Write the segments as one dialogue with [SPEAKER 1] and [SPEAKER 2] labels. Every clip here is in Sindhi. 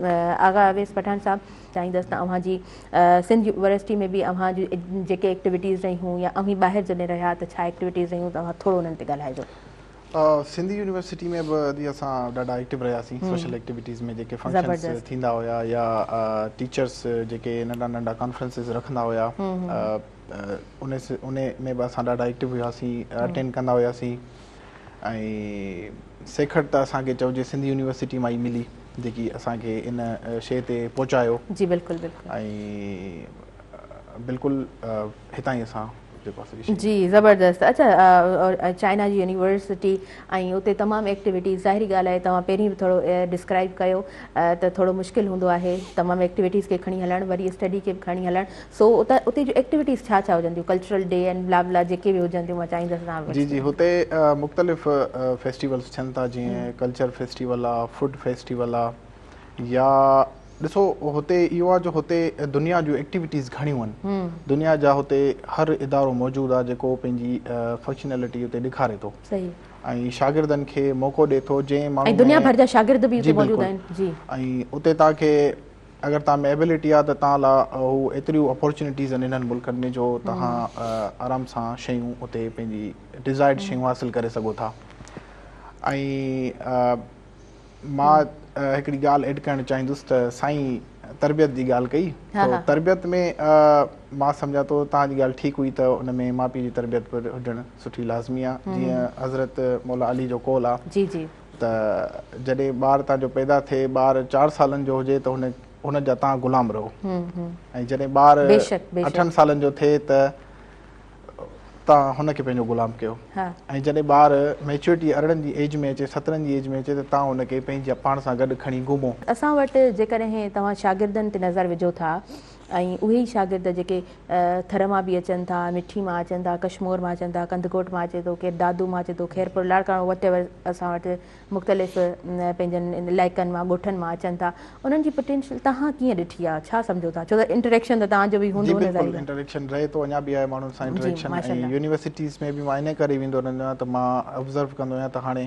[SPEAKER 1] آغا اويس پٺاڻ صاحب! چاهيندس ته اوهان جي سنڌ يونيورسٽي ۾ به اوهان جون جيڪي ايڪٽيوٽيز رهيون يا اوهين ٻاهر جڏهن رهيا ته ڇا ايڪٽيوٽيز رهيون ته اوهان ٿورو انهن تي ڳالهائجو. سنڌ
[SPEAKER 2] يونيورسٽي ۾ به جي اسان ڏاڍا ايڪٽيو رهياسين سوشل ايڪٽيوٽيز ۾ جيڪي فنڪشنس ٿيندا هيا يا ٽيچرس جيڪي ننڍا ننڍا ڪانفرنسز رکندا هيا انهي ۾ به اسان ڏاڍا ايڪٽيو هياسين اٽينڊ ڪندا هياسين. ۽ سيکڙ ته اسان کي چئجي سنڌ يونيورسٽي مان ئي ملي جيڪي اسان کي ان شيء تي پهچايو جي بلڪل بلڪل ۽ بلڪل هتان ئي اسان جيڪو اسان جي جي
[SPEAKER 1] زبردست اچا چائنا جي يونيورسٽي ۽ اتي تمام ايڪٽيوٽيز ظاهري ڳالهه آهي توهان پهرين به ٿورو ڊسڪرائب ڪيو ته ٿورو مشڪل هوندو آهي تمام ايڪٽيوٽيز کي کڻي هلڻ وري اسٽڊي کي به کڻي هلڻ سو اتان اتي جون ايڪٽيوٽيز ڇا ڇا هجنديون cultural day and blah blah جيڪي به هجنديون مان چاهيندس تان جي جي هتي
[SPEAKER 2] مختلف فيسٽيولس ٿين ٿا جيئن ڪلچر فيسٽيول آ فوڊ فيسٽيول آ يا ڏسو هتي اهو آ جو هتي دنيا جون ايڪٽيوٽيز گهڻيون آهن دنيا جا هتي هر ادارو موجود آ جيڪو پنهنجي فنڪشنلٽي اتي ڏيکاري ٿو صحيح ۽ شاگردن کي موقعو ڏي ٿو جنهن ماڻهو ۽ دنيا ڀر جا شاگرد به اتي
[SPEAKER 1] موجود آهن جي ۽ اتي تان کي
[SPEAKER 2] اگر توهان ۾ ايبلٽي آهي ته توهان لاء هو ايتريون اپورچونيٽيز آهن انهن ملڪن ۾ جو توهان آرام سان شيون اتي پنهنجي ڊزائرڊ شيون حاصل ڪري سگهو ٿا ۽ مان هڪڙي ڳالهه ايڊ ڪرڻ چاهيندس ته سائين تربيت جي ڳالهه ڪئي تربيت ۾ مان سمجهان ٿو توهان جي ڳالهه ٺيڪ هئي ته ان ۾ ماء پيء جي تربيت به هجڻ سٺي لازمي آهي جيئن حضرت مولا علي جو قول آهي ته جڏهن ٻار تان جو پيدا ٿئي، ٻار چار سالن جو هجي ته هن جا تان غلام رهو ۽ جڏهن ٻار اٺن سالن جو ٿئي ته تان هن کي پنهنجو غلام ڪيو ۽ جڏهن ٻار ميچوئرٽي ارڙهن جي ايج ۾ اچي سترهن جي ايج ۾ اچي ته تان هن کي پنهنجي پاڻ سان گڏ کڻي گهمو. اسان وٽ
[SPEAKER 1] جيڪڏهن توهان شاگردن تي نظر وجهو ٿا. ۽ اهي ئي شاگرد جيڪي ٿر مان به اچن ٿا، مٺي مان اچن ٿا، ڪشمور مان اچن ٿا، ڪنڌڪوٽ مان اچي ٿو، ڪير دادو مان اچي ٿو، خيرپور، لاڙڪاڻو وٽ ايور اسان وٽ مختلف پنهنجن علائقن مان ڳوٺن مان اچن ٿا انهن جي پٽينشل تهان ڪيئن ڏٺي آهي ڇا سمجهو ٿا ڇو ته انٽريڪشن ته تهان جو به هوندو نه ظاهر انٽريڪشن رهي ٿو
[SPEAKER 2] اڃا به آهي ماڻهن سان انٽريڪشن ۽ يونيورسٽيز ۾ به مان ان ڪري ويندو رهندو آهيان ته مان ابزرو ڪندو آهيان ته هاڻي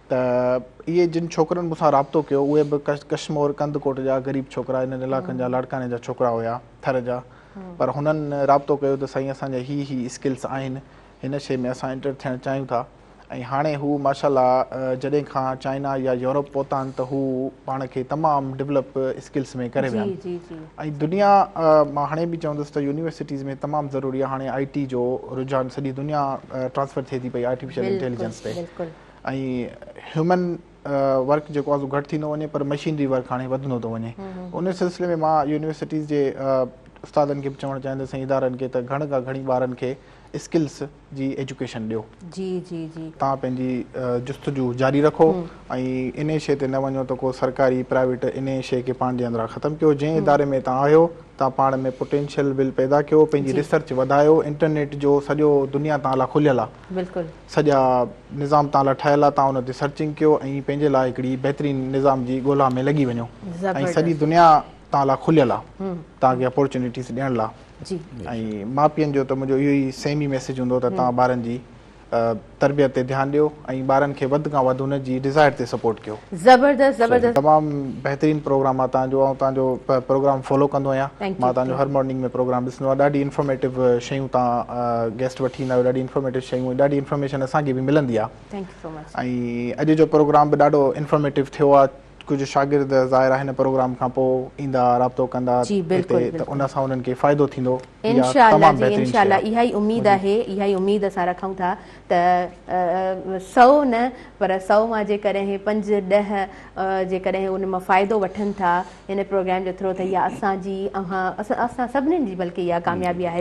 [SPEAKER 2] ته اهي جن ڇوڪرن مون سان رابطو ڪيو اهي به ڪشمور ڪنڌڪوٽ جا غريب ڇوڪرا انهن علائقن جا لاڙڪاڻي جا ڇوڪرا هيا ٿر جا پر هنن رابطو ڪيو ته سائين اسان جا هي هي اسڪلس آهن هن شي ۾ اسان انٽر ٿيڻ چاهيون ٿا ۽ هاڻي هو ماشاء الله جڏهن کان چائنا يا يورپ پهتا آهن ته هو پاڻ کي تمام ڊولپ اسڪلس ۾ ڪري ويا ۽ دنيا مان هاڻي به چوندس ته يونيورسٽيز ۾ تمام ضروري آهي هاڻي آئي ٽي جو رجحان سڄي دنيا ٽرانسفر ٿئي ٿي پئي آرٽيفيشل انٽيليجنس تي ۽ هيومن ورڪ جيڪو آهي سو گهٽ ٿيندو وڃي پر مشينري ورڪ هاڻي وڌندو ٿو وڃي ان سلسلي ۾ مان يونيورسٽيز جي استادن کي به چوڻ چاهيندس ۽ ادارن کي ته گهڻ کان گهڻي ٻارن کي اسڪلس جي ايجوڪيشن ڏيو جي جي جي
[SPEAKER 1] تان پنهنجي
[SPEAKER 2] جستجو جاري رکو ۽ ان شيء تي نه وڃو ته ڪو سرڪاري پرائيويٽ ان شيء کي پنهنجي اندران ختم ڪيو جنهن اداري ۾ تان آهيو تان پاڻ ۾ پوٽينشل ول پيدا ڪيو پنهنجي ريسرچ وڌايو انٽرنيٽ جو سڄو دنيا تان لا کليل آهي بلڪل. سڄا نظام تان لا ٺهيل آ تان ان تي سرچنگ ڪيو ۽ پنهنجي لا هڪڙي بهترين نظام جي ڳولها ۾ لڳي وڃو ۽ سڄي دنيا تان لا کليل آ تان کي اپورچونيٽيز ڏيڻ لا ۽ ما پين جو ته منهنجو اهو ئي سيم ئي ميسيج هوندو ته تان ٻارن جي تربيت تي ڌيان ڏيو ۽ ٻارن کي وڌ کان وڌ ان جي ڊزائر تي سپورٽ ڪيو زبردست زبردست.
[SPEAKER 1] تمام بهترين
[SPEAKER 2] پروگرام آ تهان جو آئون تهان جو پروگرام فالو ڪندو آهيان مان تهان جو هر مارننگ ۾ پروگرام ڏسندو آهيان ڏاڍي انفارميٽو شيون تهان گيسٽ وٺي ايندا آهيو ڏاڍي انفارميٽو شيون ۽ ڏاڍي انفارميشن اسان کي به ملندي آ ۽ اڄ جو پروگرام به ڏاڍو انفارميٽو ٿيو آ ڪجهه شاگرد ظاهر آ هن پروگرام کان پو ايندا رابطو ڪندا هتي ته ان سان انهن کي فائدو ٿيندو انشاء الله جي انشاء
[SPEAKER 1] الله اها ئي اميد آهي اها ئي اميد اسان رکون ٿا ته سؤ نه پر سؤ مان جيڪڏهن پنج ڏهه جيڪڏهن ان مان فائدو وٺن ٿا ان پروگرام جو ٿرو ته اها اسان جي اوهان اسان سڀني جي بلڪه اها ڪاميابي آهي.